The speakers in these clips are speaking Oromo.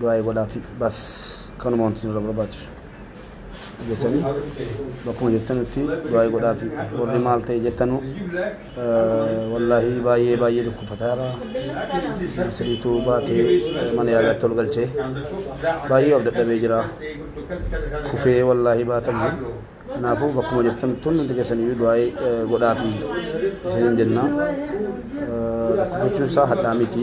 Du'aayi godhaafi bas kanuma wanti isinirra barbaachisu. Jettanii bakkuma jirtanutti du'aayi godhaafi warri maal ta'e jettanu wallaahi baay'ee baay'ee dhukkubfataara. Siriitu baatee mana yaalaatti ol galchee baay'ee of dadhabee jira. Kufee wallaahi baatamee. Kanaafuu bakkuma jirtan tun hundi keessaniyyuu du'aa'ee godhaafi isiniin jenna. Lakkoofsachuun isaa hadhaa miti.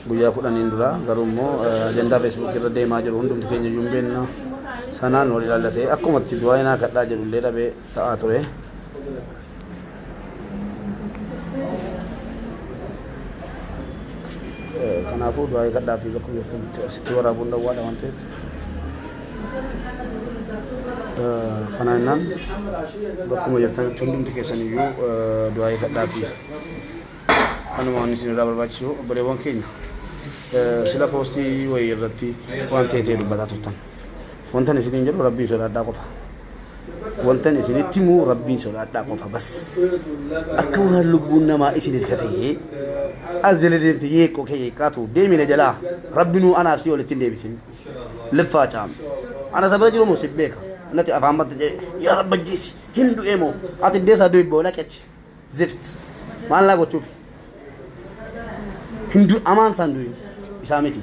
Guyyaa kudhaniin dura garuu immoo ajandaa feesbuukii irra deemaa jiru hundumti keenya iyyuu hin beekna. Sanaan wal ilaallatee akkumatti du'aa'ee naa kadhaa jedhullee dhabee ta'aa ture. Kanaafuu du'aa eegadhaa fi bakka jirtanitti asitti waraabuun dhowwaadha waan ta'eef. Kana jennaan bakkuma jirtanitti hundumti keessan iyyuu du'aa eegadhaa fi kanuma waan isin irraa barbaachisu obboleewwan keenya sila poostii wayii irratti waan ta'e ta'e dubbataa turtan. Wantan isiniin jedhu rabbii sodaadhaa qofa. wantan isinitti himu rabbiin sodaadhaa qofa bas akka waan lubbuun namaa isin ilka ta'ee as jala deemte yeeqqoo kee yeeqqaatu deemina jalaa rabbinuu anaaf si olitti hin deebisin liffaa caam ana sabira jiru moo si beeka nati afaan batta jedhe yaa rabba jeesi hin du'ee moo ati deesaa du'i boola qechi Zift. Maal naa gochuufi? Hin du amaan isaan du'in isaa miti.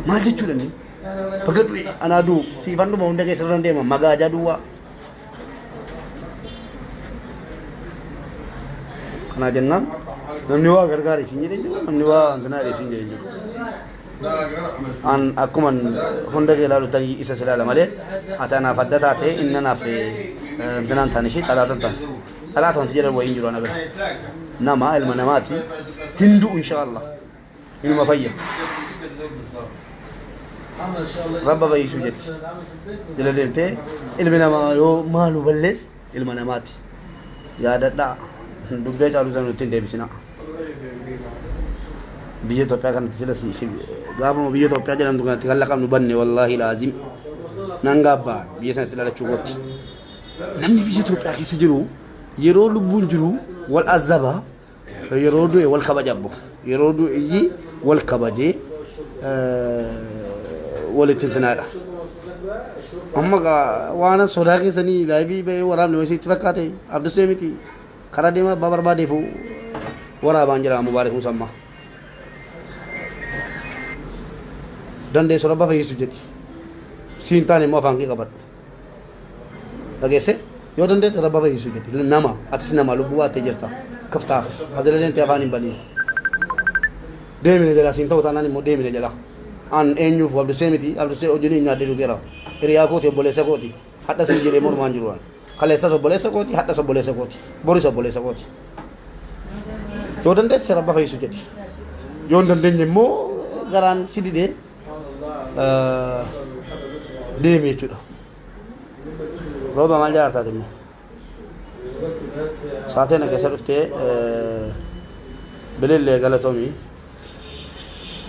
Maal jechuudha inni? Baga du'e anaa du'u siifan dhuma hunda keessa irra deema magaajaa duwwaa. Kanaa jennaan namni waa gargaare isin jedhee jira namni waa hanganaa jedhee isin jedhee jira. An akkuman hunda kee ilaalu ta'e isa si laala malee ati anaaf adda taate inni anaaf dinaan taane ishee xalaatan taane. Xalaata wanti jedhan wayiin jiru ana bira. Nama ilma namaati hindu inshaallah inuma fayya. Rabba fayyisuu jedhi. Jala deemtee ilmi namaa yoo maalu ballees ilma namaati. Yaadadhaa dubbee caalu sana nutti hin deebisinaa. biyya Itoophiyaa kanatti sila si si- gaafuma biyya Itoophiyaa jedhamtu kanatti kan laqabnu banne wallaahi laazim nan gaabbaa biyya sanatti dhalachuu kootti. Namni biyya Itoophiyaa keessa jiru yeroo lubbuun jiru wal azaba yeroo du'e wal kabaja abbo yeroo du'e wal kabajee eh, walitti intinaadha. Amma gaa waan sodaa keessanii laayivii ba'ee waraabne wayii sitti fakkaate abdusee miti Karaa deemaa abbaa barbaadeefu waraabaan jedhama Mubaarik Musammaa. Dandeessu rabba fayyisu jedhi. Si hin taane immoo afaan kee qabadhu. Dhageesse yoo dandeesse rabba fayyisu jedhi. Nama atis nama lubbuu baattee jirta. Kaftaaf hazila deemtee afaan hin baniin. Deemina jalaa siin ta'u taanaan immoo deemina jalaa. An eenyuuf abdusee miti abdusee hojiin hin nyaadhee dhugeera. Hiriyaa kooti obboleessa kooti. Hadha siin jedhee mormaa hin jiru waan. Kaleessas obboleessa kooti, hadhas obboleessa kooti, boris obboleessa kooti. Yoo dandeesse rabba fayyisu jedhi. Yoo hin dandeenye immoo garaan si didee eh, deemi jechuudha. Rooba maal jaartaati immoo? Saateena keessa dhuftee bilillee galatomi.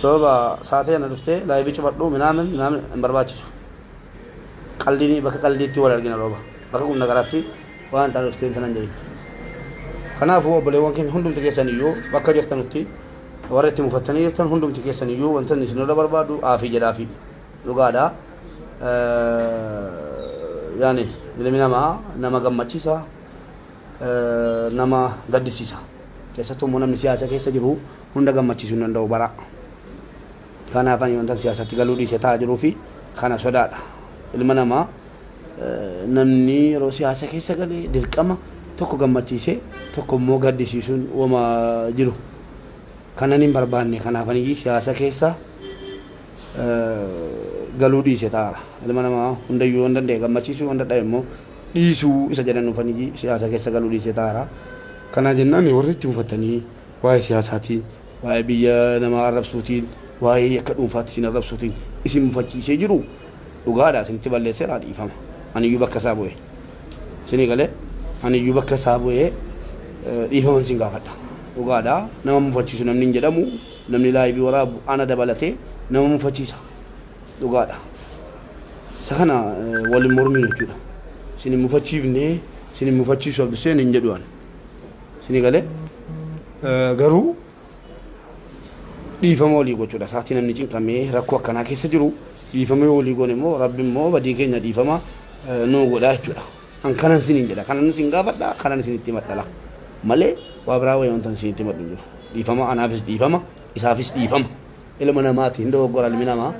Rooba saateena dhuftee laayibii cufadhu minaamin minaamin hin barbaachisu. Qaldiin bakka qaldiitti wal argina rooba. Bakka qunna garaatti waan ta'an dhuftee hin tanan jedhin. Kanaafuu obboleewwan keenya hundumti keessan iyyuu bakka jirtanutti warra itti mufattanii jirtan hundumti keessan iyyuu wantoonni isinirra barbaadu aafii jedhaafii. Dhugaadha yaani ilmi namaa nama gammachiisa nama gaddisiisa keessattuu immoo namni siyaasa keessa jiru hunda gammachiisuu hin danda'u bara kanaaf ani wantan siyaasatti galuu dhiise taa'aa jiruu fi kana sodaadha ilma namaa namni yeroo siyaasa keessa gale dirqama tokko gammachiisee tokko immoo gaddisiisuun wama jiru kanan hin barbaanne kanaaf ani siyaasa keessa galuu dhiise taara. Ilma namaa hundayyuu yoon danda'e gammachiisuu yoon dadhabe immoo dhiisuu isa jedhan dhufanii siyaasa keessa galuu dhiise taara. Kanaa jennaan warri itti mufatanii waa'ee siyaasaatiin, waa'ee biyya namaa arrabsuutiin, waa'ee yakka dhuunfaatti isin arrabsuutiin isin mufachiisee jiru dhugaadha isinitti balleesseera dhiifama. Aniyyuu bakka isaa bu'ee. Isinii galee aniyyuu bakka isaa bu'ee dhiifama isin gaafadha. Dhugaadha nama mufachiisu namni hin jedhamu. Namni live waraabu ana dabalate nama mufachiisa dhugaadha isa kana wal hin morminu jechuudha isin hin mufachiifne isin hin mufachiisu abduseen hin jedhu ani isin gale garuu dhiifama walii gochuudha saatii namni cinqamee rakkoo akkanaa keessa jiru dhiifamee walii goone immoo rabbi immoo badii keenya dhiifama nuu godha jechuudha. An kanan sinin jedha kanan isin gaafadha kanan isinitti himadhala malee waa biraa wayii wantan isinitti himadhu hin jiru dhiifama anaafis dhiifama isaafis dhiifama ilma namaati hin dogoggora ilmi namaa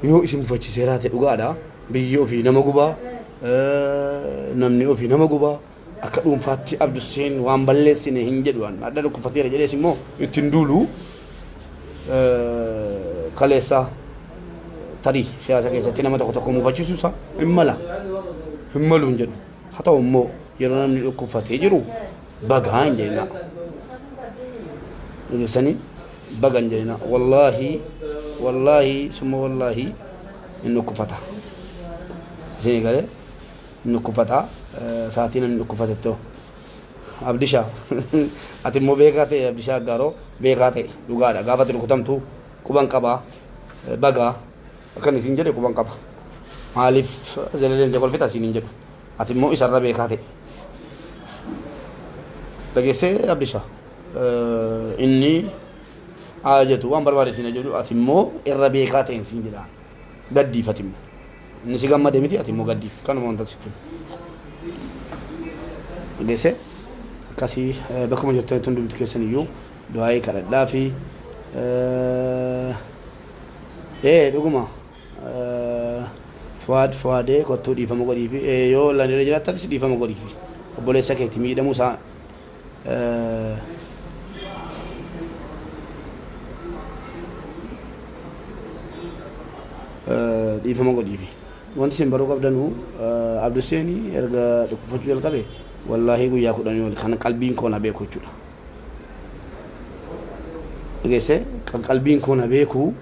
yoo isin mufachiisee raate dhugaadha biyyi ofii nama gubaa namni ofii nama gubaa akka dhuunfaatti abdusseen waan balleessine hin jedhu an adda dhukkufateera jedhees immoo ittiin duulu kaleessaa tarii siyaasa keessatti nama tokko tokko mufachiisu isaa hin mala hin malu hin jedhu haa ta'u immoo yeroo namni dhukkubfatee jiru bagaa hin jedhina ibsanii baga hin jedhina wallaahi wallaahi summa wallaahi hin dhukkubfata isin eegalee hin dhukkubfata sa'aatii namni dhukkubfatettoo Abdishaa ati immoo beekaa ta'e Abdishaa Aggaaroo beekaa ta'e dhugaadha gaafa ati rukutamtu quban qaba baga akkan isiin jedhe quban qaba maaliif jala deemtee kolfita isiin hin jedhu ati immoo isarra beekaa ta'e dhageessee Abdishaa inni haa jetu waan barbaade isiin jedhu ati immoo irra beekaa ta'e isiin jedha gaddiif ati immoo Inni si gammade miti ati immoo gaddi. Kanuma wantan sitti himu. Dhageesse? Akkasii eh, bakkuma jirtanitti hundumti keessan iyyuu du'aa'ii kadhadhaa fi eh, ee dhuguma eh, fuwaad fuwaadee kottuu dhiifama godhiifi Eh, yoo landirra jiraattatis dhiifama godhiifi obboleessa keeti miidhamuu isaa dhiifama godhiifi. Wanti isin baruu qabdanu Abduseen erga dhukkubfachuu jalqabe wallaahii guyyaa kudhanii ol kan qalbiin koo na beeku jechuudha. Dhageessee kan qalbiin koo na beeku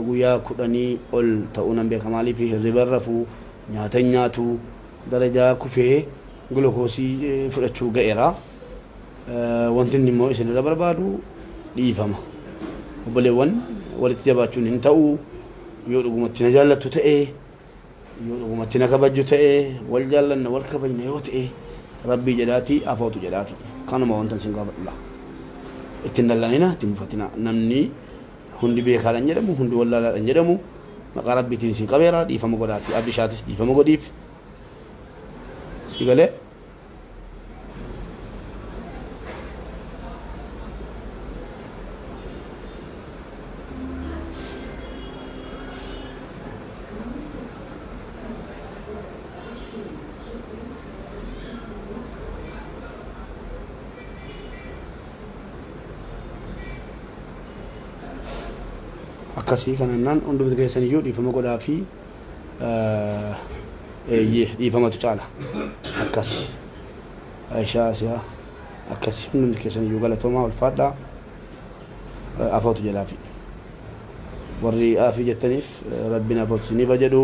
guyyaa kudhanii ol ta'uu nan beeka maaliif hirriba hin rafuu nyaata hin nyaatu darajaa kufee Gulukoosii fudhachuu ga'eera. Wanti inni immoo isin irra barbaadu dhiifama. Obboleewwan walitti jabaachuun hin ta'u. Yoo dhugumatti na jaallattu ta'e, yoo dhugumatti na kabajju ta'e, wal jaallanna, wal kabajna yoo ta'e Rabbii jedhaatii afootu jedhaafi. Kanuma wantan isin gaafadhu laa. Itti hin dallanina, itti hin mufatina. Namni hundi beekaadha hin jedhamu, hundi wallaalaadha hin jedhamu. Maqaa Rabbiitiin isin qabeera, dhiifama godhaafi. Abdishaatis dhiifama godhiif. si galee akkasii kanannaan hundumti keessan iyyuu dhiifama godhaa fi Eeyyee dhiifamatu caala. Akkasi. Aishaa Asiyaa akkasi hundumti keessan iyyuu galatoomaa ulfaadhaa. Afootu jedhaafi. Warri aafii jettaniif rabbiin afootu isinii bajedhu.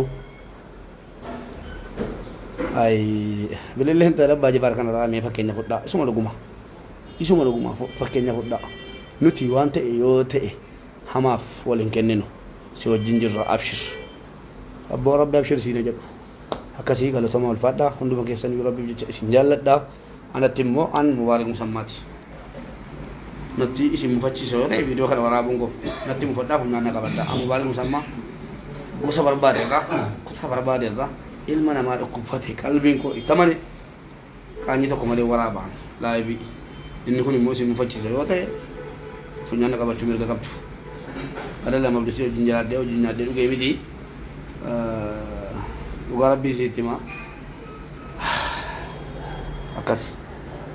Ay bililleen ta'e abbaa jifaar kanarraa mee fakkeenya fudhaa isuma dhuguma. Isuma dhuguma fakkeenya fudhaa. Nuti waan ta'e yoo ta'e hamaaf wal hin kenninu si wajjin jirra abshir. Abboo rabbi abshir siin hajedhu. Akkasii galatoma ulfaadha hunduma keessaniyu rabbif jecha isin jaalladha anatti immoo an mubaarik musammaati natti isin mufachiisa yoo ta'e viidiyoo kana waraabuun koo natti mufadhaa humnaan na qabadha an mubaarik musammaa gosa barbaade irraa kutaa barbaade irraa ilma namaa dhukkubfate qalbiin koo itti amane Qaanyii tokko malee waraaba live inni kun immoo isin mufachiisa yoo ta'e funyaan na qabachuu mirga qabdu. Adelam Abdusii wajjin jiraadhee wajjin nyaadhee dhugee miti. Dhugaa rabbii isiitti himaa. Akkasi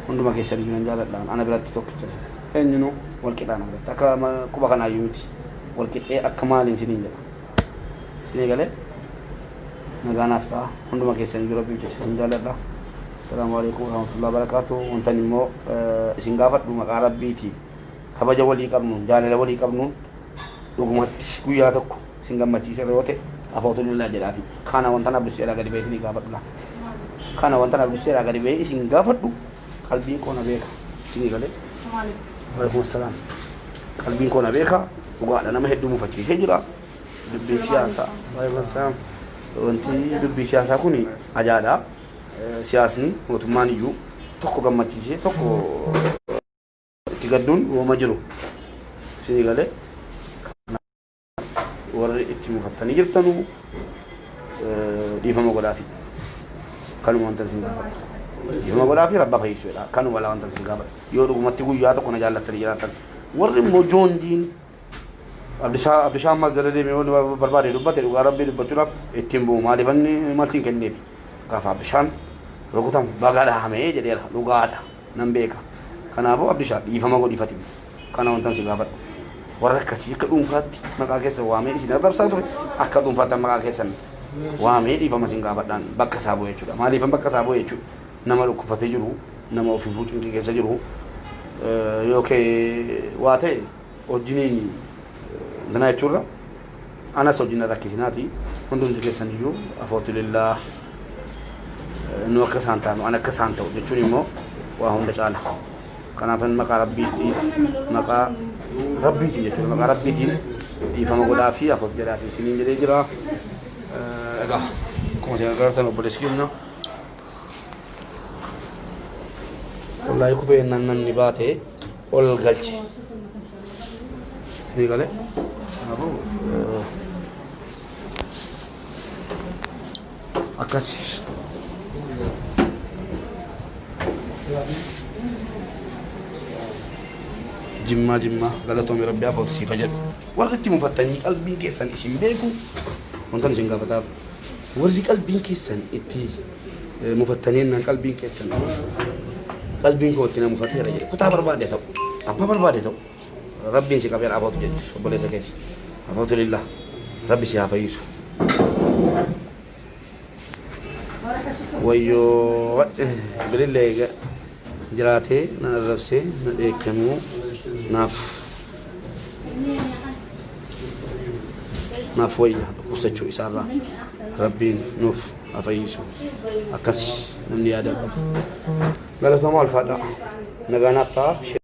hunduma keessan iyyuu nan jaaladhaan ana biratti tokkicha isin. Eenyunuu wal qixaa na biratti akka quba kanaayyuu miti. Wal qixxee akka maaliin isiniin jedha. Isinii galee nagaa naaf ta'a hunduma keessaniyyuu rabbiif jecha isin jaalladha. Assalaamu alaikum warahmatullahi wabarakatuh. Wantan immoo isin gaafadhu maqaa rabbiitiin kabaja walii qabnuun jaalala walii qabnuun dhugumatti guyyaa tokko isin gammachiiseera yoo ta'e alhamdulillah jedhaati. Kana wantan abdusseeraa gadi ba'ee isinii gaafadhudha. Kana wantan abdusseeraa gadi ba'ee isin gaafadhu qalbiin koo na beeka isinii galee waalaikum assalaam qalbiin koo na beeka dhugaadha nama hedduu mufachiisee jira dubbii siyaasaa waalaikum assalaam wanti dubbii siyaasaa kun ajaadha Eh, siyaasni mootummaan iyyuu tokko gammachiisee tokko itti gadduun uuma jiru isinii galee warri itti mufattanii jirtanu dhiifama godhaafi. Kanuma wanta isin gaafadha. Dhiifama godhaafi rabbaa fayyisuu jedha. Kanuma laa wanta isin gaafadha. Yoo dhugumatti guyyaa tokko na jaallattanii jiraattan. Warri immoo joonjiin Abdishaa Abdishaa ammas jala deemee wanni bar- barbaade dubbate dhugaa rabbii dubbachuudhaaf ittiin bu'u maaliif inni malsiin kenneef gaafa Abdishaan rukutamu baga dhahamee jedheera dhugaadha nan beeka. Kanaafuu Abdishaa dhiifama godhiifati. Kana wantan si gaafadhu, warra akkasii akka dhuunfaatti maqaa keessan waamee isin arrabsaa ture, akka dhuunfaattan maqaa keessan waamee dhiifama isin gaafadhaan bakka isaa bu'e jechuudha. Maaliifan bakka isaa bu'e jechuudha? Nama dhukkubfatee jiru, nama ofiifuu cinqii keessa jiru yookee waa ta'e wajjiniin intanaa jechuurra anas wajjin na rakkisinaati hundumti keessan iyyuu afootulillaa nu akka isaan taanu an akka isaan ta'u jechuun immoo waa hunda caala. Kanaafan maqaa Rabbiitiif maqaa Rabbiitiin jechuudha maqaa Rabbiitiin dhiifama godhaa fi afuuf jedhaa fi isiniin jedhee jira. Egaa akkuma isin agartan obboleessi keenya wallahi kufee innaan namni baate ol galche. Isinii galee kanaafuu akkasi. Jimmaa jimmaa galatoomi rabbi afootu siifa jedhu. Warri itti mufattanii qalbiin keessan isin beeku wantan isin gaafataa. Warri qalbiin keessan itti eh, mufattanii naan qalbiin keessan qalbiin koo itti na mufateera jedhe kutaa barbaade ta'u abbaa barbaade ta'u. Rabbiin si qabeen abootu jetti obboleessa keeti. Abootu lillah rabbi si haa fayyisu. Wayyoo bilillee eega jiraatee na arrabsee na dheekkamuu naaf naaf wayya dhukkubsachuu isaarraa rabbiin nuuf haa fayyisu akkas namni yaada qabu. Galatoomaa ulfaadhaa nagaa naaf ta'a.